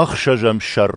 Ӕхсӕзӕм сӕр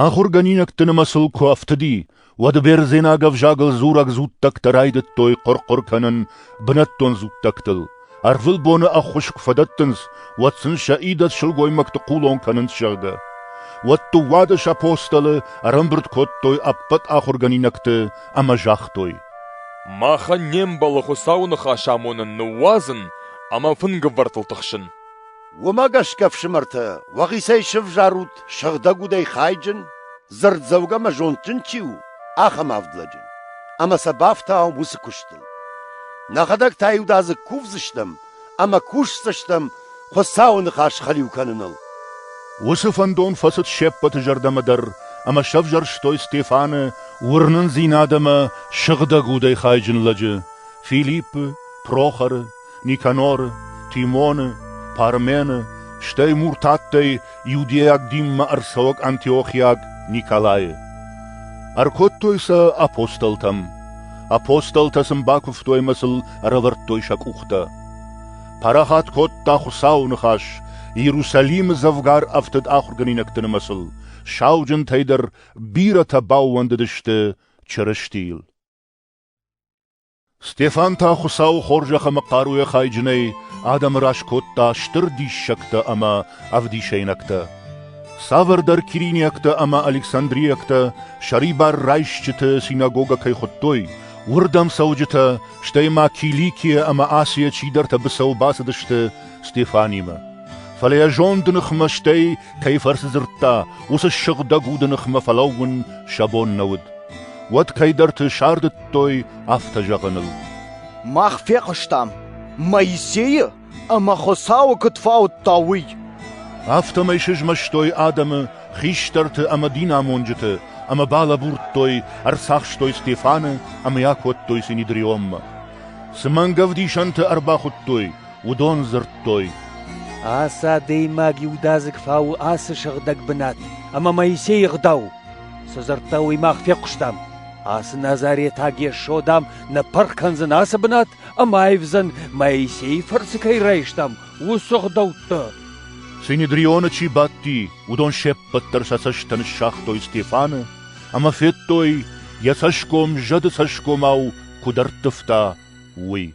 Ахуыргӕнинӕгты нымӕцыл куы ӕфтыди, уӕд бердзенаг ӕвзагыл дзурӕг дзуттӕгтӕ райдыдтой хъуыр-хъуыр кӕнын бынӕттон дзуттӕгтыл. Ӕрвылбоны ӕххуыс куы фӕдӕттынц, уӕд сын сӕ идӕдз сылгоймӕгты хъулон кӕнынц, зӕгъгӕ. Уӕд дыууадӕс апостолы ӕрӕмбырд кодтой ӕппӕт ахуыргӕнинӕгты ӕмӕ загътой: «Махӕн не мбӕлы Хуыцауы ныхас амонын, ныууадзын ӕмӕ фынгывӕртыл тыхсын». Уымӕ гӕсгӕ, ӕфсымӕртӕ, уӕхицӕй сӕвзарут сыгъдӕг удӕй хайджын, дзырддзӕугӕ ӕмӕ зондджын чи у, ахӕм авд лӕджы, ӕмӕ сӕ бафтауӕм уыцы куыстыл. Нӕхӕдӕг та иудадзыг кувдзыстӕм ӕмӕ кусдзыстӕм Хуыцауы ныхас хӕлиу кӕныныл. Уыцы фӕндон фӕцыд се ппӕты зӕрдӕмӕ дӕр ӕмӕ сӕвзӕрстой Стефаны уырнындзинад ӕмӕ сыгъдӕг удӕй хайджын лӕджы, Филиппы, Прохоры, Никаноры, Тимоны, Пармены, стӕй муртаттӕй иудейаг динмӕ ӕрцӕуӕг антиохиаг Николайы. Ӕркодтой сӕ апостолтӕм. Апостолтӕ сын бакуывтой ӕмӕ сыл ӕрӕвӕрдтой сӕ къухтӕ. Парахат кодта Хуыцауы ныхас, Иерусалимы дзӕвгар ӕфтыд ахуыргӕнинӕгты нымӕцыл, сауджынтӕй дӕр бирӕтӕ баууӕндыдысты Чырыстийыл. Стефан та Хуыцауы хорзӕх ӕмӕ хъаруйӕ хайджынӕй адӕмы раз кодта стыр диссӕгтӕ ӕмӕ ӕвдисӕйнӕгтӕ. Цавӕрдӕр кириниӕгтӕ ӕмӕ александриӕгтӕ сӕрибар райсджыты синагогӕ кӕй хуыдтой, уырдӕм цӕуджытӕ, стӕй ма Киликийӕ ӕмӕ Асийӕ чидӕртӕ быцӕу бацыдысты Стефанимӕ. Фӕлӕ йӕ зонды ныхмӕ стӕй кӕй фӕрцы дзырдта, уыцы сыгъдӕг уды ныхмӕ фӕлӕууын сӕ бон нӕ уыд. Уӕд кӕйдӕрты сардыдтой афтӕ зӕгъыныл. Мах фехъуыстам Моисейы ӕмӕ Хуыцауы куыд фаудта, уый. Афтӕмӕй сызмӕстой адӕмы хистӕрты ӕмӕ динамонджыты ӕмӕ балӕбурдтой, ӕрцахстой Стефаны ӕмӕ йӕ кодтой Синедрионмӕ. Цы мӕнгӕвдисӕнты ӕрбахуыдтой, Уыдон дзырдтой: «Ацы адӕймаг иудадзыг фауы ацы сыгъдӕг бынат, ӕмӕ Моисейы ӕгъдау. Цы дзырдта, уый мах фехъуыстам. Ацы назаретаг Йесо, дам, нӕ пырх кӕндзӕн ацы бынат ӕмӕ аивдзӕн, Моисейы фырцы кӕй райстам, уыцы ӕгъдӕуттӕ». Синедрионы чи бадти, уыдон се ппӕт дӕр сӕ цӕстӕ ныссагътой Стефаны ӕмӕ федтой, йӕ цӕсгом зӕды цӕсгомау куыд ӕрттывта, уый.